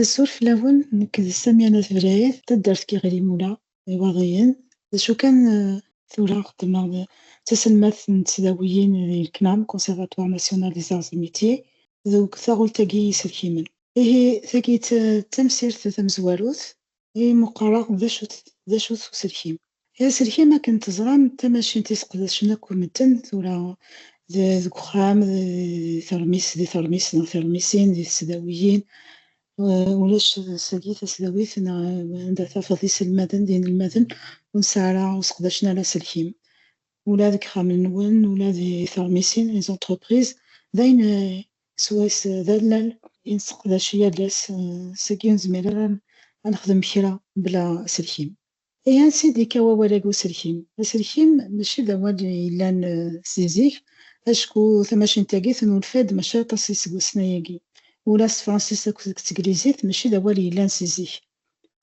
Azul fell-awen, nekk d Samia n At Blayet, taddart n Yiɣil-Imula, d Iwaḍiyen. D acu kan, tura xeddmeɣ d taselmadt n tesdawiyin di CNAM, Conservatoire National des Arts et Métiers, deg taɣult-agi n yiselkimen. Ihi, tagi d tamsirt tamezwarut I meqqar akk d acu-t d acu-t uselkim. Aselkim akken teẓram d tamacint i seqdacen akk medden tura d deg uxxam d teṛmis di teṛmis neɣ tiṛmisin di tesdawiyin ulac sagi tasdawit neɣ anda tafeḍ iselmaden d inelmaden ur nesɛi ara ur seqdacen ara aselkim ula deg ixxamen-nwen ula di teṛmisin les entreprises d ayen Swayes d allal i nesseqdac yal ass, seg-i ur nezmir ara ad nexdem kra bla aselkim. Ihi ansi d-yekka wawal-agi uselkim? Aselkim mačči d awal yellan si zik, acku tamacint-agi tennulfa-d maca aṭas iseggasen-ayagi. Ula s tefransist akked deg teglizit mačči d awal yellan si zik.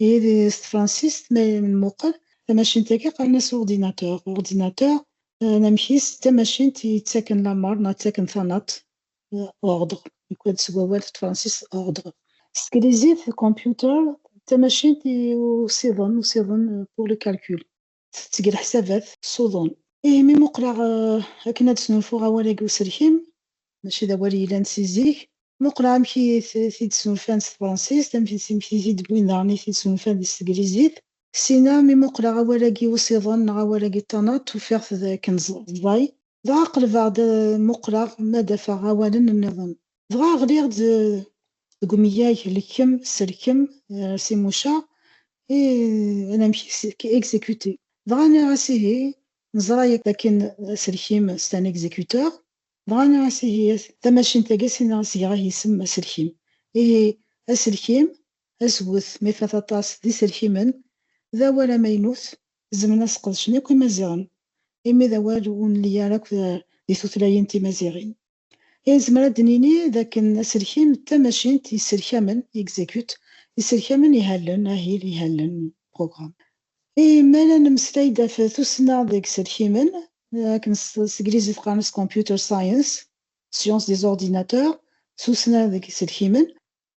Ihi s tefransist ma nmuqel tamacint-agi qqaren-as ordinateur, ordinateur, Anamek-is d tamacint yettaken lameṛ neɣ ttaken tanaḍt, ordre, yuklal-d seg wawal n tefransist ordre. S teglizit, computer, d tamacint i usiḍen, usiḍen, pour le calcul, tetteg leḥsabat, s uḍun. Imi muqleɣ akken ad snulfuɣ awal-agi uselkim, mačči d awal yellan si zik, muqel amek i t-id-snulfan s tefransist, amek i t-id-wwin daɣen i t-id-snulfan di s teglizit, ssina mi muqleɣ awal-agi usiḍen neɣ awal-agi ṭanaṭ ufiɣ-t d akken ẓẓay, dɣa qelbeɣ-d ad muqleɣ ma d-afeɣ awalen nniḍen, dɣa ɣliɣ-d deg umeyag lekkem, selkem, si muca i anamek exécuter, dɣa nniɣ-as ihi, neẓra yakk akken aselkim c'est un exécuteur, Dɣa nniɣ-as ihi-yat, tamacint-agi a s-iniɣ a s-geɣ ihi-isem aselkim. Ihi, aselkim, aswet, ma ifat aṭas, d iselkimen, d awal amaynut, zemren a s-qedcen yakk imaziɣen, imi d awal ur nelli ara akk di tutlayin timaziɣin. Ihi nezmer ad d-nini d akken aselkim d tamacint yesselkamen, execute, yesselkamen ihallen, ahil, ihallen, programme, I ma la nemmeslay-d ɣef tussna deg yiselkimen, akken s teglizit qqaren-as computer science, science des ordinateurs, tussna deg yiselkimen,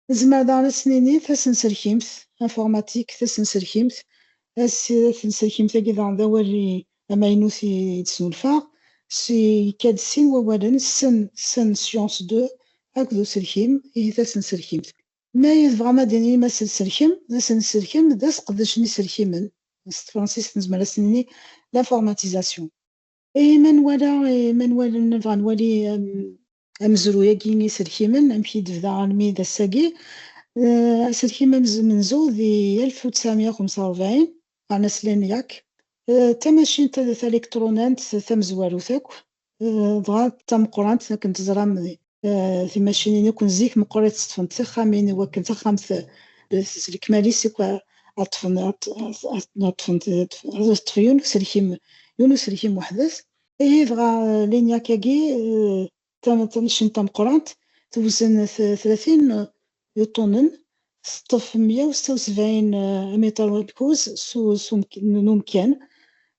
nezmer daɣen ad s-nini tasenselkimt, informatique, tasenselkimt, tasenselkimt-agi daɣen d awal amaynut i d-snulfaɣ, yekka-d sin wawalen, sen, science de, akked uselkim, ihi tasenselkimt. Mi ay tebɣam ad d-tinim aselselkem, d asenselkem, d aseqdec n iselkimen, s tefṛensist nezmer ad as-nini l'informatisation. I ma nwala, i ma nwala, nebɣa ad nwali amezruy-agi n yiselkimen, amek i d-tebda almi d ass-agi. Aselkim amenzu di alef u tesεemya u xemsa u rebεin, meɛna slan yak d tamacint talikṭrunant tamezwarut akk, Dɣa d tameqqrant akken teẓram timacinin akk n zik meqqer ad ṭṭfent tixxamin i wakken taxxamt s lekmal-is akk ad ṭṭfen ad ṭṭef yiwen uselkim yiwen uselkim weḥd-s ihi dɣa linyakagi tamacint tameqqrant tewzen tlatin Yuṭunen, teṭṭef meyya u seṭṭa u sebɛin amiṭar n ukuz n umkan,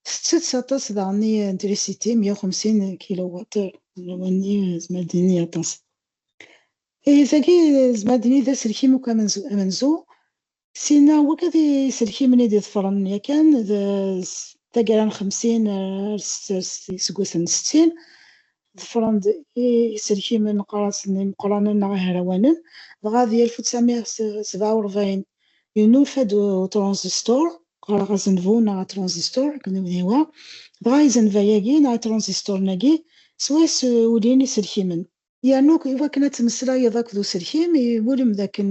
tettett aṭas daɣen i trisiti, meyya u xemsin kiluwaṭ-ir. Awal-nni nezmer ad d-nini aṭas. Ihi tagi nezmer ad d-nini d aselkim akk amenzu, Sin-a akk d iselkimen i d-iḍefren yakan d taggara n xemsin ar iseggasen n settin. Ḍefren-d iselkimen neqqar-asen imeqqranen neɣ ihrawanen. Dɣa di alef u ttɛemya sebɛa u rebɛin yennulfa-d utṛanzistur, qqareɣ azenvu neɣ atṛanzistur akken umi ihwa. Dɣa izenva-agi neɣ itṛanzisturen-agi swayes ulin iselkimen. Yernu i wakken ad temmeslayeḍ akked uselkim, iwulem d akken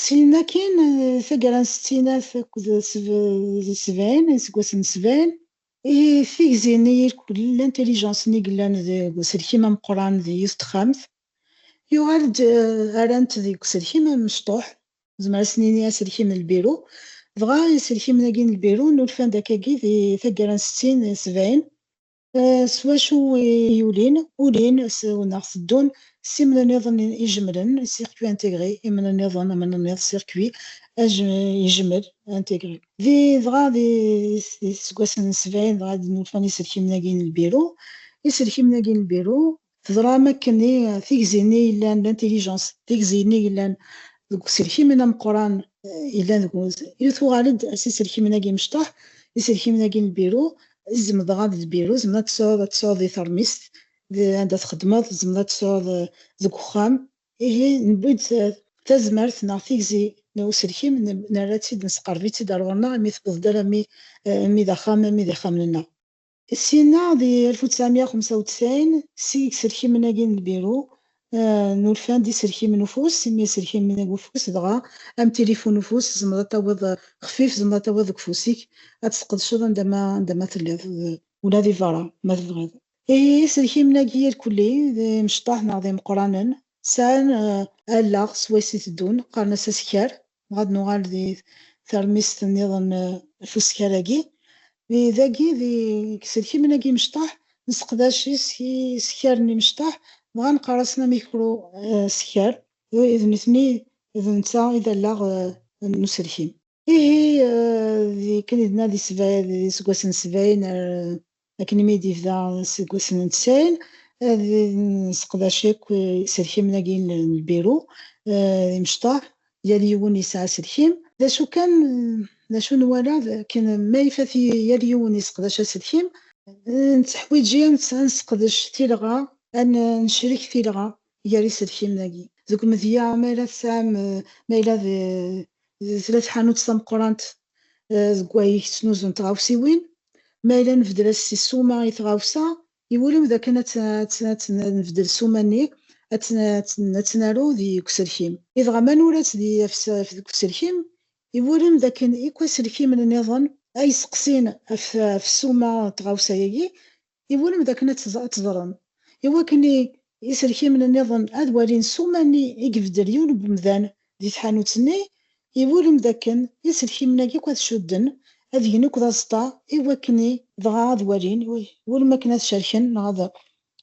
Syin akkin, taggara n settinat akked sebɛin, iseggasen n sebɛin, i tigzi n yirkul, l'intelligence, n i yellan deg uselkim ameqqran d yiwet n texxamt, yuɣal-d, rran-t deg uselkim amecṭuḥ, nezmer ad s-nini aselkim n lbiru, dɣa iselkimen-agi n lbiru nulfan-d akkagi di taggara n settin, sebɛin, S wacu i yulin, ulin, s wneɣ teddun, s imnenniḍen ijemlen, circuit intégré, imnenniḍen, amnenniḍ, circuit, ijemel, intégré. Di dɣa di tiseggasen n sebɛin dɣa i d-nufan iselkimen-agi n lbiru. Iselkimen-agi n lbiru Teẓram akken i tigzi-nni yellan d intelligence, tigzi-nni yellan deg uselkim-nni ameqqran yellan deg wuz, i tuɣal-d s iselkimen-agi imecṭaḥ, iselkimen-agi n lbiru, tzemd dɣa d lbiru, tzemd ad tesɛuḍ ad tesɛuḍ di termist, d anda txeddmeḍ, tzemd ad tesɛuḍ deg uxxam, ihi newwi-d tazmert neɣ tigzi n uselkim nerra-tt-id, nesqerb-itt-id ar ɣur-neɣ imi tewweḍ-d alammi d axxam, alammi d ixxamen-nneɣ. Syenna, di alef u tesεemya u xemsa u tesεin, si iselkimen-agi n lbiru, nurfan-d iselkimen ufus, imi iselkimen n ufus, dɣa, am tilifun n ufus, tzemreḍ ad tawiḍ, xfif, tzemreḍ ad tawiḍ deg ufus-ik, ad t-tesqedceḍ anda ma, anda ma telliḍ, ula di berra, ma tebɣiḍ. Iselkimen-agi irkelli, d imecṭaḥ neɣ d imeqqranen, sɛan allaɣ swayes i teddun, qqaren-as askar, Dɣa ad nuɣal di termist nniḍen f uskal-agi. Dagi d iselkimen agi imecṭaḥ, nesseqdac isekkar n imecṭaḥ, dɣa neqqar-asen amikru sekkar. D nitni, d netta i d allaɣ n uselkim. Ihi, d akken i d-nadi sebɛin, d iseggasen sebɛin ar Akken mi d-yebda aseggas n tsayen, ad nesseqdac akk iselkimen-agi n lbiru d imecṭaḥ, yal yiwen yesɛa aselkim. D acu kan, d acu nwala d akken ma ifat yal yiwen yesseqdac aselkim, netteḥwiji ad nesseqdec tilɣa, ad necrek tilɣa gar iselkimen agi. Deg umedya ma yella tesɛam ma yella d tella tḥanut tameqqrant deg wayeg ttnuzun tɣawsiwin, ma yella nbedel as si ssuma i tɣawsa, iwulem d akken ad tnebdel ssuma-nni ad tt-naru di deg uselkim. I dɣa ma nura-tt di deg uselkim, iwulem d akken ikk aselkimen nniḍen ay yesteqsin ɣef ssuma n tɣawsa-agi Iwulem d akken ad teẓrem, i wakken iselkimen nniḍen ad walin ssuma-nni i ibeddel yiwen n wemdan di tḥanut-nni, iwulem d akken iselkimen-agi akk ad cudden, ad gen akk d aẓeṭṭa i wakken dɣa ad walin, iwulem akken ad cerken neɣ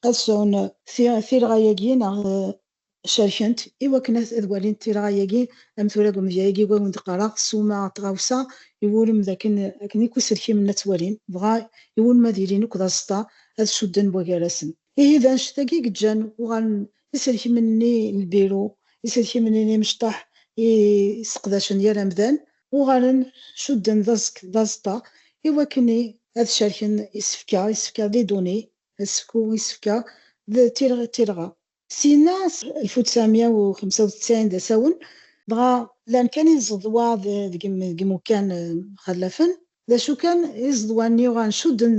ad sɛun tirɣa-agi neɣ Cerkent i wakken ad walint tirɣa-agi, am tura deg umedya-agi i awen-d-qqareɣ, ssuma, tɣawsa, iwulem d akken akken akk iselkimen la ttwalin, dɣa iwulem ad ilin akk d aẓeṭṭa, ad cudden buygarasen. Ihi d annect-agi i yeǧǧan uɣalen iselkimen-nni n lbiru, iselkimen-nni n yimecṭaḥ i sseqdacen yal amdan, uɣalen cudden d aẓeṭṭa i wakken ad cerken isefka, isefka d iduni, asefk u isefka d tirɣa. Syenna, s alef u tesεemya u xemsa u teţɛin d asawen, dɣa llan kan iẓeḍwa deg imukan mxallafen. D acu kan, iẓeḍwa-nni uɣalen cudden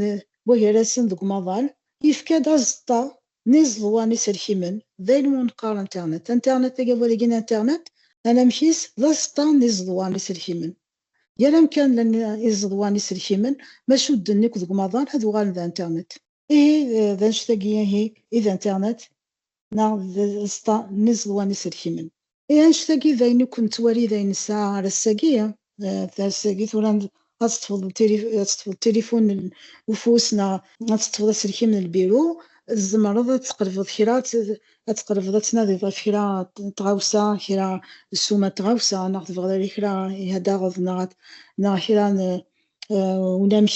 buhir-asen deg umaḍal, yefka-d aẓeṭṭa n iẓeḍwa n iselkimen, d ayen umi neqqar internet. Internet, agawal-agi n internet, anamek-is d aẓeṭṭa n iẓeḍwa n iselkimen. Yal amkan llan iẓeḍwa n iselkimen, ma cudden akk deg umaḍal, ad uɣalen d internet. Ihi d annect-agi ihi i d internet neɣ d aẓeṭṭa n iẓeḍwa n iselkimen. Ihi annect-agi d ayen akk nettwali d ayen nesɛa ar ass-agi, ters-agi tura ad teṭṭfeḍ tilifun n ufus neɣ ad teṭṭfeḍ aselkim n lbiru, tzemreḍ ad tqelbeḍ kra, ad tqelbeḍ ad tnadiḍ ɣef kra n tɣawsa, kra ssuma n tɣawsa neɣ tebɣiḍ ad kra i ad taɣeḍ neɣ kra n unamek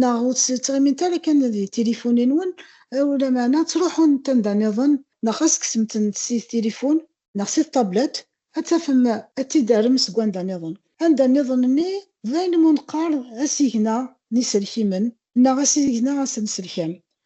Neɣ ur tettɣimimt ara kan di tilifun-nwen, lameɛna ttruḥunt anda niḍen, neɣ xas kksemt-tent si tilifun, neɣ si ṭablet, ad tafem ad t-id-terrem seg wanda niḍen. Anda niḍen-nni d ayen umi neqqar asigna n yiselkimen neɣ asigna asenselkam.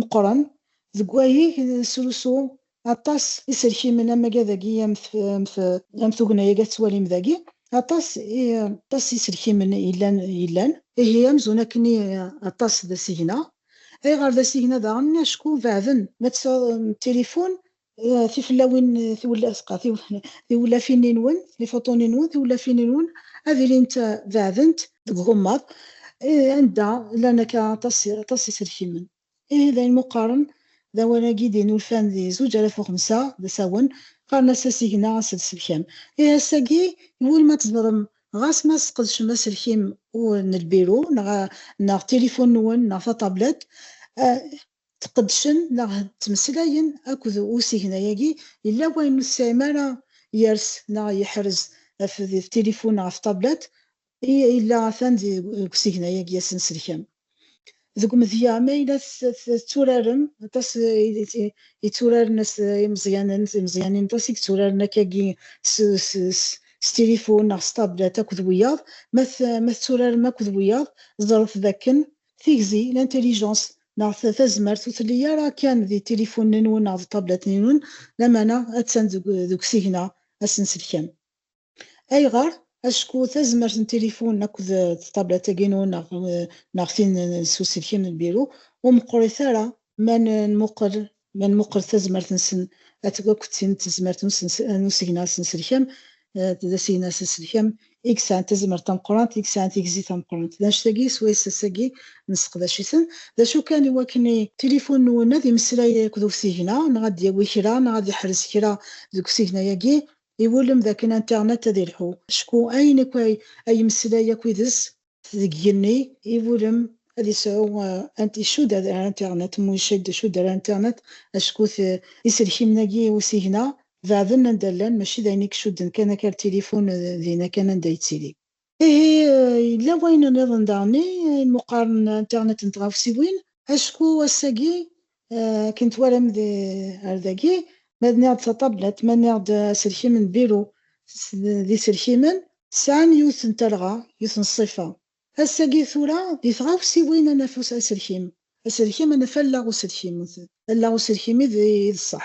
Meqqren deg wayeg n nesrusu aṭas iselkimen am waga dagi am am tugna-agi ad tettwalim dagi aṭas aṭas iselkimen yellan yellan. Ihi amzun akken i aṭas d asigna. Ayɣer d asigna daɣen? Acku beɛden. Ma tesɛuḍ tilifun Eh, tiflawin tiwlafin-nwen tifuṭun-nwen tiwlafin-nwen ad ilint beɛdent deg ugemmaḍ eh, anda llan akka aṭas aṭas iselkimen ihi d ayen muqqaren d awal-agi d-yennulfan di zuǧ alaf u xemsa d asawen qqaren-as asigna aselselkam ihi ass-agi iwul ma tzemrem ɣas ma tesqedcem aselkim n lbiru neɣ neɣ tilifun-nwen neɣ tatablet eh, Ttqedcen neɣ ttmeslayen akked usigna-agi, yella wayen ur tesɛim ara yers neɣ yeḥrez ɣef d tilifun neɣ ɣef tablat, i yella atan deg usigna-agi asenselkam. Deg umedya, ma yella tetturarem, aṭas yetturaren imeẓyanen, timeẓyanin aṭas i yetturaren akkagi s tilifun neɣ s tablat akked wiyaḍ, ma tetturarem akked wiyaḍ, ẓret dakken Tigzi, l'intelligence, neɣ tazmert ur telli ara kan di tilifunen-nwen neɣ di ṭablatin-nwen, lamana attan deg usigna asenselkam. Ayɣer? Acku tazmert n tilifun akked ṭablat-agi-nwen neɣ tin s uselkim n lbiru ur meqqrit ara ma nmuqel Ma nmuqel tazmert-nsen atg akk d tin n tezmert n usegna asenselkam, d asigna asenselkam i yesɛan tazmert tameqqrant, i yesɛan tigzi tameqqrant. D annect-agi swayes ass-agi nesseqdac-iten. D acu kan, i wakken i. Tilifun-nwen ad imeslay akked usigna, neɣ ad d-yawi kra, neɣ ad iḥrez kra deg usigna-agi, iwulem d akken internet ad ilḥu. Acku ayen akk ay ay imeslay akk yid-s. Deg yigenni, iwulem ad isɛu isud ar internet, monced isud ar internet, acku iselkimen-agi i usigna beɛden anda llan, mačči d ayen i icudden kan akal tilifun dinna kan anda yettili. Ihi, yella wayen nniḍen daɣen i imuqaren n internet n tɣawsiwin, acku ass-agi Akken twalam ar dagi, ma nniɣ-d taṭablat, ma nniɣ-d aselkim n biru d iselkimen, sɛan yiwet n talɣa, yiwet n ṣṣifa. Ass-agi tura, di tɣawsiwin ad naf aselkim, aselkim ad naf allaɣ uselkim, allaɣ uselkim i d ṣṣeḥ.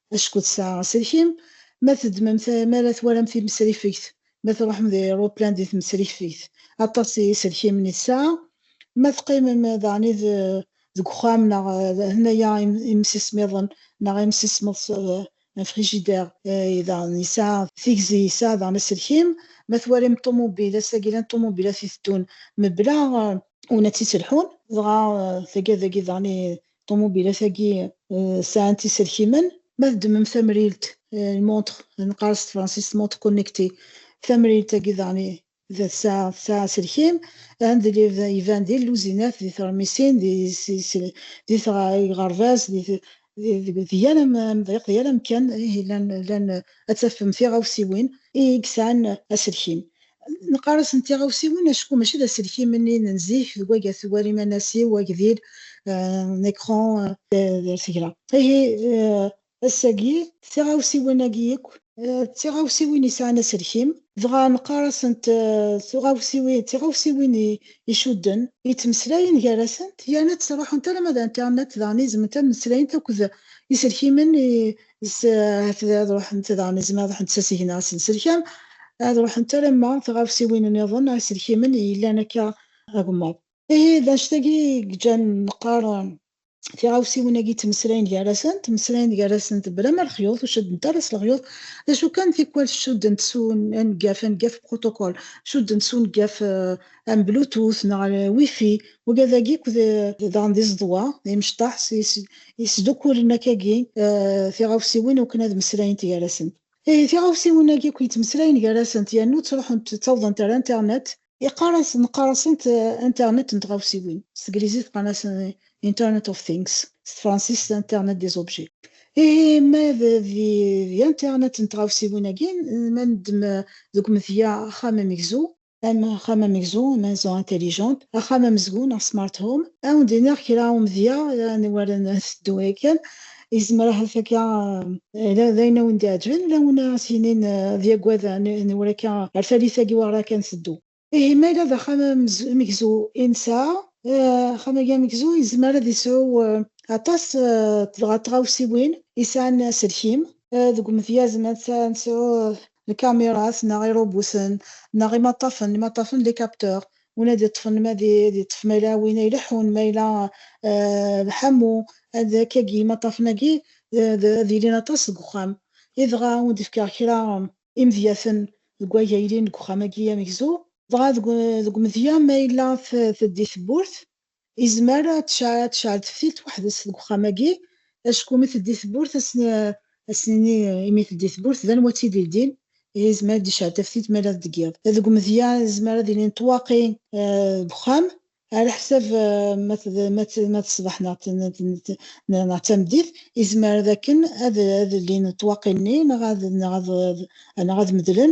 Acku tesɛa aselkim, ma teddmem-t mi ara twalam timesrifegt, ma truḥem d airuplan di tmesrifegt, aṭas n yiselkimen i tesɛa, ma teqqimem daɣen i deg uxxam neɣ hna-ya imsismiḍen neɣ imsismeḍ s un frigidaire i daɣen yesɛa tigzi, yesɛa daɣen aselkim, ma twalim ṭṭumubil, ass-agi llan ṭṭumubilat iteddun mebla. Win ad tt-ittelḥun, dɣa taggada-agi daɣen i ṭṭumubilat-agi sɛant iselkimen. Ma teddmem tamrilt, une montre, neqqar s tefransist montre connectée, tamrilt-agi daɣen tesɛa tesɛa aselkim, iban di lluzinat, di tṛemisin, di tɣerbaz, di yal amḍiq, di yal amkan, ihi llan ad tafem tiɣawsiwin i yesɛan aselkim. Neqqar-asen tiɣawsiwin acku mačči d aselkim-nni n zik deg wagga tewwar imanas-iw, agdil, un écran, d tagra. Ihi ass-agi tiɣawsiwin-agi yakk d tiɣawsiwin yesɛan aselkim, dɣa neqqar-asent tiɣawsiwin icudden, yettmeslayen gar-asent yerna ttruḥunt alamma d internet daɣen izemment ad mmeslayent akked iselkimen ad ruḥent daɣen izem ad ruḥent s asigna asenselkam, ad ruḥent alamma tɣawsiwin nniḍen iselkimen i yellan akka agemmaḍ. Ihi d annect-agi i yeǧǧan neqqar tiɣawsiwin-agi ttmeslayen gar-asen, ttmeslayen gar-asent blama lexyuḍ, ur ceddent ara s lexyuḍ, d acu kan tikwal cuddent s uneggaf, aneggaf, protocole, cuddent s uneggaf am Bluetooth neɣ Wi-Fi, waga dagi akk daɣen d iẓeḍwa, d imecṭaḥ yesdukulen akkagi tiɣawsiwin ukken ad meslayent gar-asent. Ihi tiɣawsiwin-agi akk yettmeslayen gar-asent yernu ttruḥent ttawḍent ar internet, Iqqar-as, neqqar-asent internet n tɣawsiwin, s teglizit qqan-asen internet of things, s tefransist internet des objets. Ihi ma d di internet n tɣawsiwin-agi, ma neddem deg umedya axxam amegzu, am axxam amegzu, maison intelligente, axxam amezgun neɣ smart home. Ad wen-d-iniɣ kra i umedya n war nteddu yakan, yezmer ahat akka d ayen ad wen-d-iɛeǧben, ula win ara s-yinin ad yaggad n war akka ar tallit-agi war akka nteddu. Ihi ma yella d axxam amegzu i nesɛa, axxam-agi amegzu yezmer ad yesɛu aṭas dɣa n tɣawsiwin yesɛan aselkim. Deg umedyaz ma nesɛu lkamirat neɣ irubuten neɣ imaṭṭafen, imaṭṭafen d icapteurs, win ad iṭṭfen ma ad iṭṭef ma yella win ay ileḥḥun ma yella d ḥamu ad k-agi imaṭṭafen-agi ad ilin aṭas deg uxxam i dɣa ad wen-d-fkeɣ kra imedyaten deg way a ilin deg uxxam-agi amegzu dɣa deg umedya ma yella teddi tewwurt Izmer ad tecɛel teftilt weḥd-s deg uxxam-agi, acku mi teldi tewwurt ad sen-nini imi teldi tewwurt d anwa i tt-id-ildin, ihi izmer ad d-icɛel taftilt ma yella deg yiḍ. Deg umedya izmer ad ilin ṭṭwaqi deg uxxam, ɛlaḥsab ma d ṣṣbeḥ neɣ d tameddit, izmer dakken ad llin ṭṭwaqi-nni neɣ ad medlen,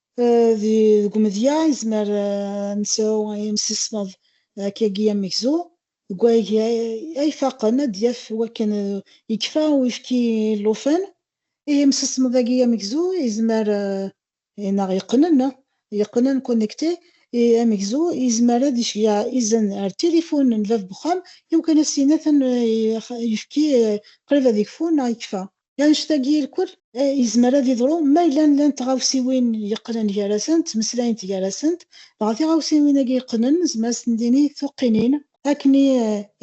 Deg umedya, nezmer ad nesɛu imsismeḍ akkagi amegzu. Deg wayagi ay ifaqen, ad d-yaf wakken yekfa uyefki i llufan. Ihi imsismeḍ-agi amegzu yezmer neɣ yeqqnen, yeqqnen, connecter, amegzu yezmer ad iceyyeɛ izen ɣer tilifun n bab n uxxam iwakken ad s-yini atan uyefki qrib ad yekfu neɣ yekfa. Annect-agi irkul, yezmer ad yeḍru ma yella llant tɣawsiwin yeqqnen gar-asent, ttmeslayent gar-asent, dɣa tiɣawsiwin-agi yeqqnen nezmer ad sen-d-nini tuqqinin, akken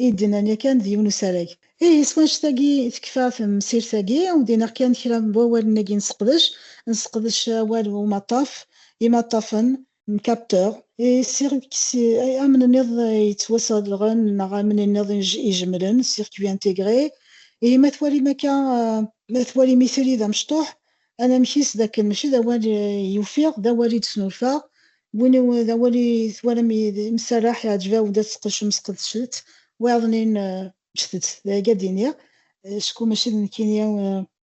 i d-nnan yakan d yiwen usarag. Ihi s wannect-agi i tekfa temsirt-agi, ur d-inniɣ kan kra n wawalen-agi nesseqdec, nesseqdec awal umaṭṭaf, imaṭṭafen, n capteur, i circuits ay amn niḍ yettwasadɣen neɣ amn niḍ ijemlen, circuits intégrés, ihi ma twalim akka, ma twalim itri d amecṭuḥ, anamek-is d akken mačči d awal i ufiɣ, d awal i d-snulfaɣ, win i d awal i twalam imserreḥ iɛǧeb-awen-d ad tqedcem sqedcet-t, wayeḍ-nni ǧǧet-t, d ay ga d-iniɣ, acku mačči d nekkini.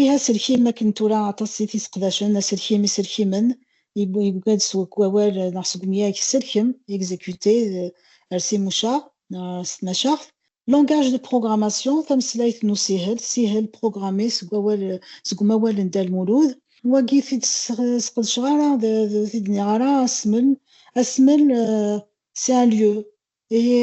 Ih, aselkim akken tura aṭas i t-iseqdacen, aselkim, iselkimen, yugad seg wawal neɣ seg umyag sselkem, exécuter, d ers imucaɣ neɣ s tmacaɣt. Langage de programmation, tameslayt n usihel, tsihel, programmer, seg wawal seg umawal n Dda Lmulud. Wagi t-id-sqedceɣ ara, ur t-id-nniɣ ara, asmel, asmel, c'est un lieu, Ihi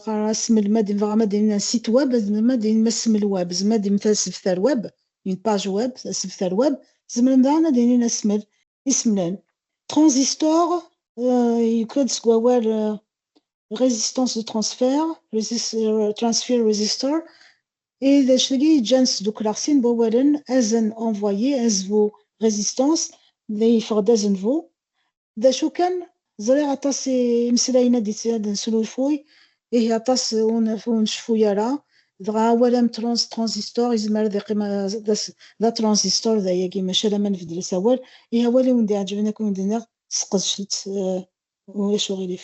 ɣer asmel-mad dɣa ma d-in site web, ma d-in asmel web, ma d-in asebter web, une page web, asebter web, zemren daɣen ad inin asmel, ismlen. Transistor, yuker-d seg wawal résistance de transfert, transfer resistor, i d acu-agi yeǧǧan sdukleɣ sin n wawalen, azen, envoyer, azvu, résistance, yeffeɣ-d azenvu, D acu kan, ẓriɣ aṭas imeslayen ad ad nesnulfuy, ihi aṭas ur nceffu ara, dɣa awal am trans, transistor, yezmer ad iqqim d atransistor dayagi, maca alamma nbeddel asawal, ihi awal i wen-d-iɛeǧben akk i wen-d-nniɣ, sqedcet-t, ulac uɣilif.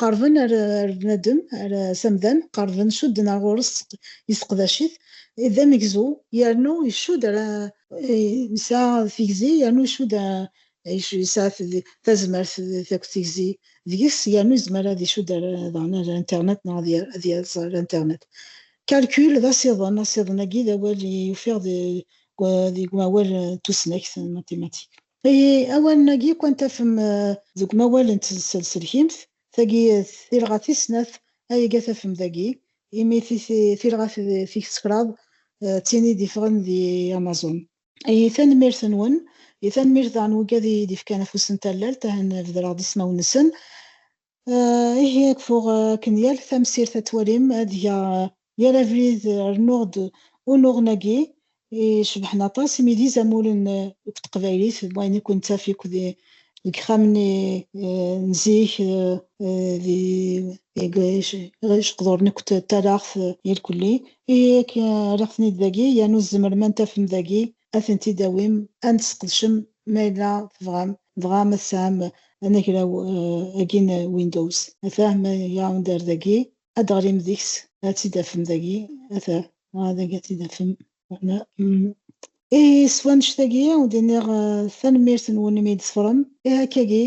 Qerben ar bnadem, ar s amdan, qerben cudden ar ɣur-s, yesseqdac-it, d amegzu yernu icudd ar, yesɛa tigzi yernu icudd, yesɛa tazmert akked tigzi deg-s yernu yezmer ad icudd ar daɣen ar internet neɣ ad yerẓ ar internet. Calcul d asiḍen, asiḍen-agi d awal i ufiɣ deg umawal n tusnakt, mathématiques. I awalen-agi kwan tafem deg umawal n tselselkimt, tagi tilɣa tis snat ayega tafem dagi, imi tilɣa tis kraḍ d tin i d-ifɣen di Amazon. I tanemmirt-nwen, i tanemmirt daɣen n wegad i yi-d-ifkan afus n tallalt, ahan bedreɣ-d ismawen-nsen, Ihi ad kfuɣ akken yal tamsirt ad twalim ad geɣ yal abrid rnuɣ-d unuɣen-agi icebḥen aṭas imi d izamulen deg teqbaylit d wayen i ken-nettaf yakk deg ixxamen n zik deg iqduren yakk d talaɣt irkelli ihi akken rriɣ-ten-id dagi yernu tzemrem ad tafem dagi ad tent-id-tawim, ad t-tesqedcem ma yella tebɣam, dɣa ma tesɛam anagraw agi n Windows, ata ma iɣawen-d ar dagi, ad d-teɣlim deg-s, ad tt-id-tafem dagi, ata, dɣa dagi ad tt-id-tafem, wala. I s wanect-agi, ur d-nniɣ tanemmirt-nwen imi i d-teffrem, ihi akka-agi,